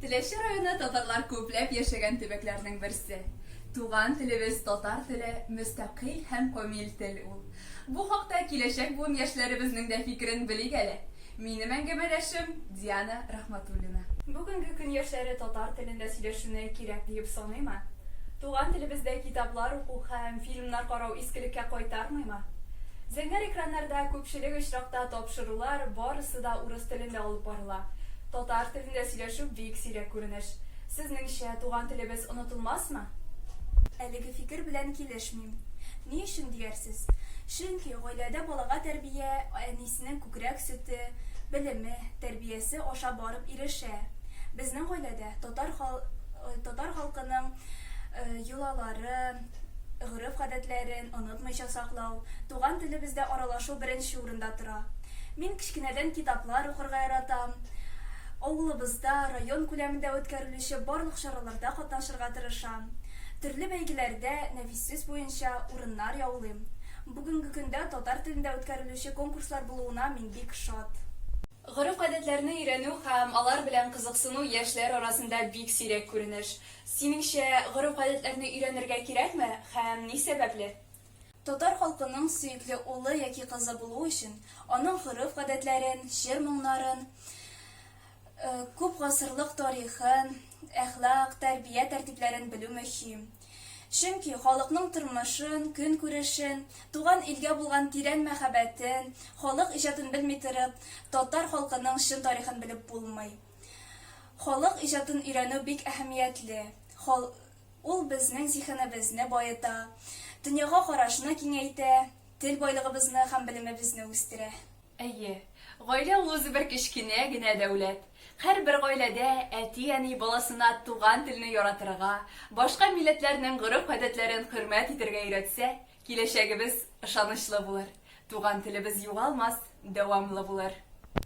Теләче районы татарлар күпләп яшәгән төбәкләрнең берсе. Туган телебез татар теле мөстәкыйль һәм комиль тел ул. Бу хакта киләчәк буын яшьләребезнең дә фикерен белик әле. Минем әңгәмәдәшем, Диана Рахматуллина. Бүгенге көн яшьләре татар телендә сөйләшүне кирәк диеп саныймы? Туган телебездә китаплар уку һәм фильмнар карау искелеккә кайтармыймы? Зәңгәр экраннарда күпчелек очракта тапшырулар барысы да урыс телендә алып барыла. Татар Телендә сөйләшү бик сирәк күренеш. Сезнеңчә, туган телебез онытылмасмы? Әлеге фикер белән килешмим. Ни өчен диярсез? Чөнки гаиләдә балага тәрбия әнисенең күкрәк сөте, белеме, тәрбиясе аша барып ирешә. Безнең гаиләдә татар татар халкының йолалары, гореф-гадәтләрен онытмыйча саклау, туган телебездә аралашу беренче урында тора. Мин кечкенәдән китаплар укырга яратам. Авылыбызда, район күләмендә үткәрелүче барлык чараларда катнашырга тырышам. Төрле бәйгеләрдә нәфис сүз буенча урыннар яулыйм. Бүгенге көндә татар телендә үткәрелүче конкурслар булуына мин бик шат. Гореф-гадәтләрне өйрәнү һәм алар белән кызыксыну яшьләр арасында бик сирәк күренеш. Синеңчә, гореф-гадәтләрне өйрәнергә кирәкме һәм ни сәбәпле? Татар халкының сөекле улы яки кызы булу өчен, аның гореф-гадәтләрен, җыр-моңнарын, күп гасырлык тарихын, әхлак, тәрбия тәртипләрен белү мөһим. Чөнки халыкның тормышын, көнкүрешен, туган илгә булган тирән мәхәббәтен, халык иҗатын белми торып, татар халкының чын тарихын белеп булмый. Халык иҗатын өйрәнү бик әһәмиятле. Ул безнең зиһенебезне баета, дөньяга карашны киңәйтә, тел байлыгыбызны һәм белемебезне үстерә. Әйе, гаилә ул үзебер кечкенә генә дәүләт. Һәрбер гаиләдә әти-әни баласына туган телне яратырга, башка милләтләрнең гореф-гадәтләрен хөрмәт итәргә өйрәтсә, киләчәгебез ышанычлы булыр, туган телебез югалмас, дәвамлы булыр.